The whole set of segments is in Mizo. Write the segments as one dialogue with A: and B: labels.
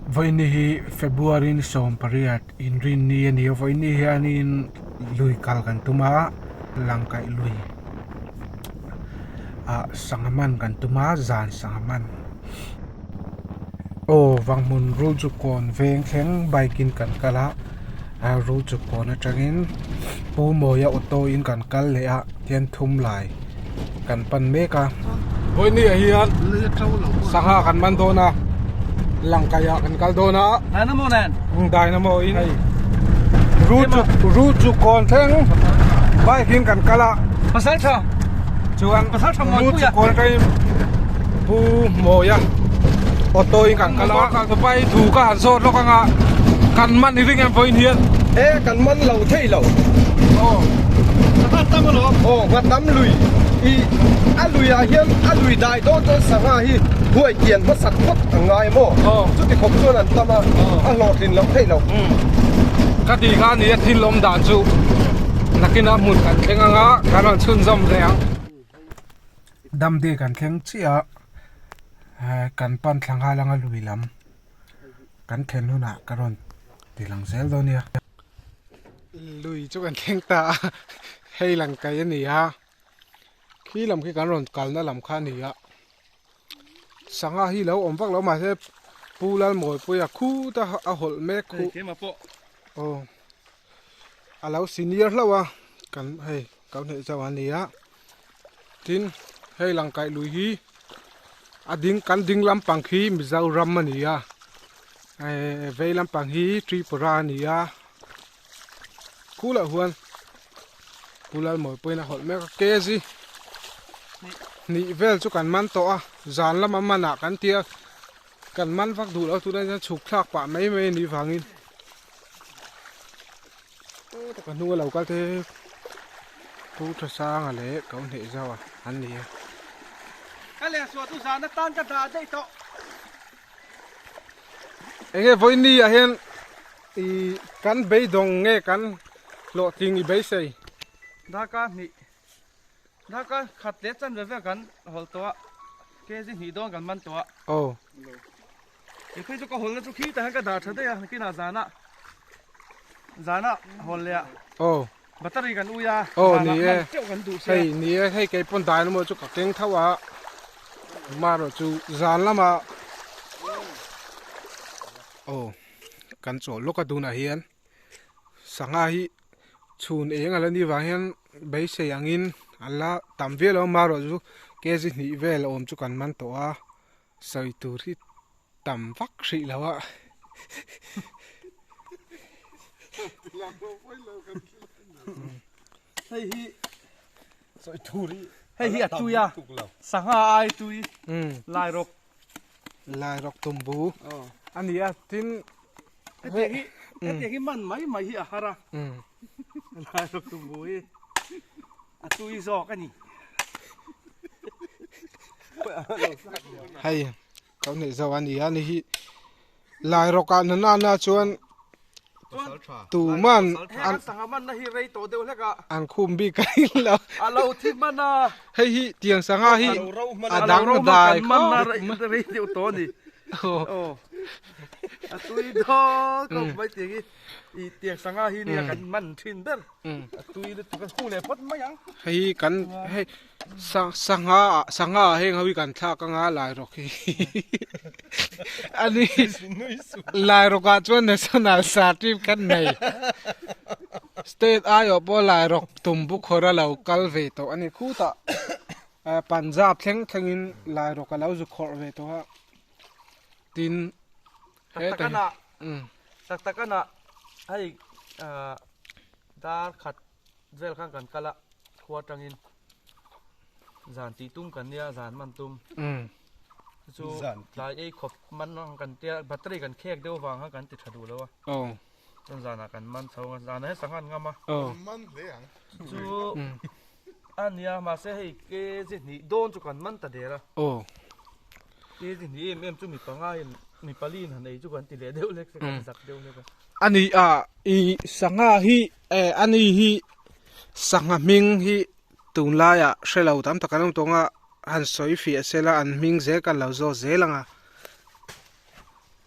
A: Vawiini hi February-in sawm pariat inrin ni a ni a, vawiini hianin lui kal kan tum a, lang kaih lui ah sangha man kan tum a, zan sangha man. Aw vanghmun rul chu kawn veng thleng bike-in kan kal a. a ru chu pawn atangin pumawia auto in kan kal leh a tian thum lai kan pan mek a hawi hnih ah hian sangha kan man dawn a lang kai ah kan kal dawn a dynamo nen umm dynamo in hei ru chu ru chu kawn thleng bike in kan kal a pasal tha chuan ru chu kawn atangin Pu Mawia auto in kan kal a, ka ka pai thu ka han sawt lawk anga kan man ni ring em pawhin hian e kan man lo thei lo aw nghat tam a lo aw nghat tam lui i a luia hian a lui dai dawn chuan sangha hi huai tian hmasak phawt a ngai maw aw chuti khawp chuan an tam a a hlawh thin loh theih lo ka tih kha nia thil awm dan chu nakin a hmun kan thleng anga kan rawn chhunzawm ve ang. Dam dek an thleng chiah a, kan pan thlangha langa lui lam kan thlen hunah ka rawn ti lang zel dawn nia. Lui chu kan thleng ta a, hei lang kai a ni a, khi lam khi kan rawn kalna lam kha a ni a, sangha hi lo awm vak lo mahse Pu Lalmawipui a khut a hawlh mek khuh. Aw. a lo senior hlauh a kan hei ka hnaih zauh a nia tin hei lang kaih lui hi a ding kan ding lampang khi Mizoram a ni a ehh vei lampang hi Tripura a ni a khu lah huan Pu Lalmawii pawhin a hawlh mek a KG hnih vel chu kan man tawh a zan lama manah kan tia kan man vak duh lo tuna chukthlak pah mai mai a nih vangin ka hnunga lo kal te pu tha sanga leh ko hneh zau an ni a ka leh suah chu zan atan ka dah daih tawh eng nge vawiini ah hian i kan beidawng nge kan hlawh tih ni beisei darkar hnih darkar khat leh chanve vel kan hawl tawh a kg hnih dawn kan man tawh a aw Nupui chu ka hawl na chu khi ta hian ka dar tha daih a nakin ah zana zana hawl leh ah oh battery kan ui a oh ni e teuh kan duh se hei ni e hei kei pon dai lama chu ka keng thau a maro chu zan lama oh kan chaw loka dun a hian sanga hi chhun eng ala ni vang hian beisei angin ala tam vial lo maro chu kezi hnih vel awm chu kan man tawh a Sawi tur hi tam vak hrih lo a. Hei hi sawi tur hi hei hi a tui a sangha ai tui lai rawk lai rawk tumbu a ni a tin heti hi heti hi man mai mai hi a har a lai rawk tumbu hi A tui zawk a ni. Hei kau neih zo a nia ni hi lai rawk ah na na na chuan tu man an sangha man na hi rei to deuh hlek a an khum bik a in lo a lo thi man a hei hi tiang sangha hi a dang na dai kho man na rei deuh to ni o a tui daw kau mai tiang hi i tiang sangha hi nia kan man thin ber a tui lutuk kan hung leh phawt mai ang hei hi kan hei sa sangha sangha heng ho hi kan thlak anga lai rawk hi ani lai rawk ah chuan national sa trip kan nei state ai oh pawh lai rawk tum bu khawra lo kal ve tawh ani khuta punjab thleng thlengin lai rawk a lo zu khawrh ve tawh a tin He tai na um tak tak ana hei ah dar khat vel khan kan kal a khua tangin zan tih tum kan nia zan man tum um chu tlai ei khawp man ang kan tia battery kan khek deuh vang khan kan ti tha duh lo a oh. Kan zan ah kan man chho, zan ah hian sangha an ngam a, kan man hle ang, chu a nia mahse hei kg hnih dawn chu kan man ta der a, kg hnih em em chu mi panga in mi pali in han ei chu kan ti leh deuh hlek se, kan zak deuh hlek a, a ni a i sangha hi eh a ni hi sangha hming hi tun lai ah hre lo tam tak an awm tawng a, han sawi fiah se la an hming zel kan lo zawt zel ang a.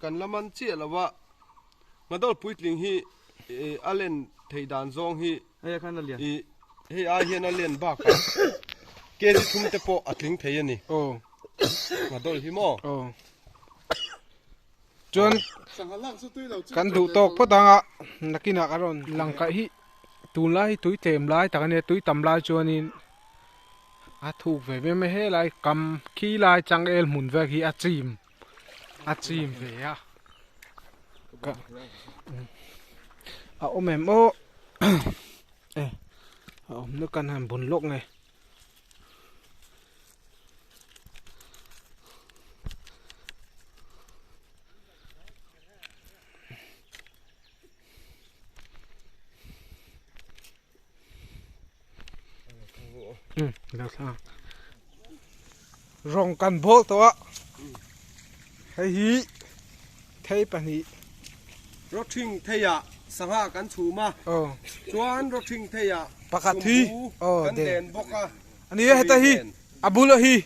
A: Kan la man chiah lo a, Ngadawr puitling hi a len theih dan zawng hi i hei ai hian a len bakah kg thum te pawh a tling thei a ni. Ngadawr hi maw? Chuan kan duh tawk phawt ang a, nakinah ka rawn lang kaih hi tunlai hi tui tlem lai tak a nia, tui tam lai chuanin a thuk ve viau mai helai kam khi lai changel hmun vek hi a chim. a chim ve a ka a awm em aw e a awm na kan han bun lawk nge rawng kan bawh tawh a hei hi thei pahnih rotling thei ah sangha kan chhum a chuan rotling thei ah pakhat hi kan den bawk a ani a heta hi a bulah hi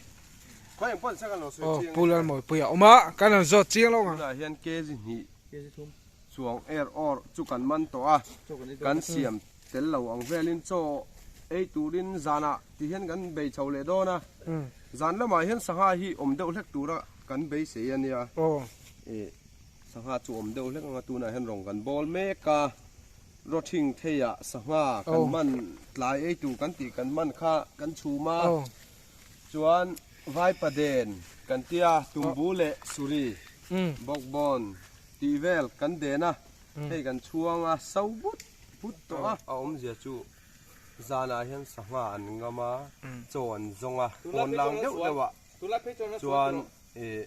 A: pulrawn mawipui a awm a kan rawn zawt chiang lawk ang. Chuang er awr chu kan man tawh a, kan siam tel lo ang velin chaw ei turin zanah tih hian kan bei chho leh dawn a, zan lamah hian sangha hi awm deuh hlek tura kan beisei a nia, ih sangha chu awm deuh hlek ang a tunah hian rawn kan bawl mek a, rotling theia sangha kan man tlai ei tur kan tih kan man kha kan chhum a. Chuan Vaipa den kan ti a, Tumbu leh Suri, Bawkbawn, tih vel kan den a, hei kan chhuang a, so but but tawh a. A awmzia chu zanah hian sangha an ngam a, chaw an zawng a, pawn lang deuh deuhah chuan ih.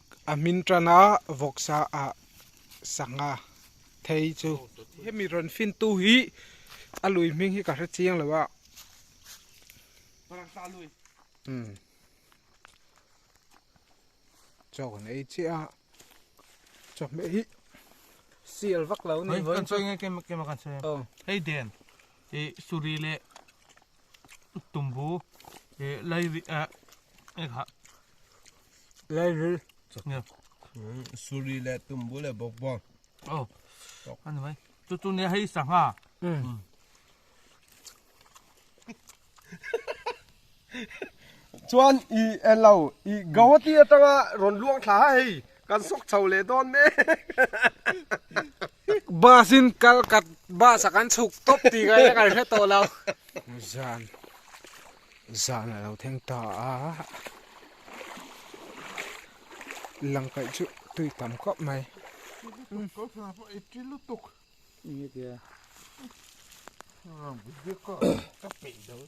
A: a hmin tan a vawk sa ah sangha thei chu hemi rawn fin tu hi a lui hming hi ka hre chiang lo a umm chawk an ei chiah a chawhmeh hi sial vak lo a ni vawiin chuan. tumbu eh lairi ah eh kha lairi nia suri leh tumbu leh bawk bawk oh ani mai chu chu nia hei sangha um chuan i elo i gawati atanga rawn luang thla hei Kan sawk chho leh dawn mek. Bus in kal ka bus a kan chhuk tawp tih ka eng an hre tawh lo. Zan zan alo theng ta a langkaih chu tui tam khawp mai. Kal sana pawh i ti lutuk. Enge tia. Ram biak a ka peih dawn.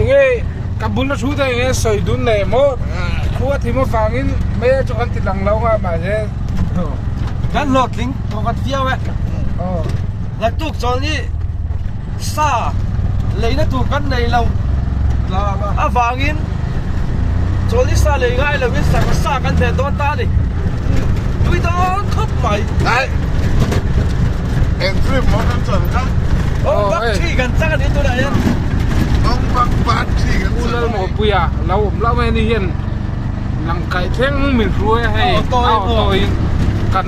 A: enge ka bula thu te enge sawi dun leh maw khua thim avangin mai a chu kan ti dang lo nga mahse kan hlawhtling pakhat viau e ngaktuk chawl hi sa leina tur kan nei lo avangin chawl hi sa lei ngai lovin sangha sa kan ve dawn ta a ni nui dawn khawp mai. Eng trip maw kan chuan kha? Ong bak thi kan chak a ni tunah hian. Ong bak bak thi kan chuan. Ulal maw pui a lo awm hlauh mai a ni hian. Lang kai thleng min hru e hei. A auto in kan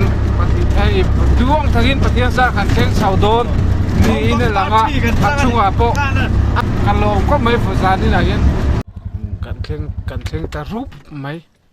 A: hei duang thakin Pathian zar kan thleng chho dawn niin a lang a. A chungah pawh ka lawm khawp mai vazanin ah hian kan thleng kan thleng ta rup mai.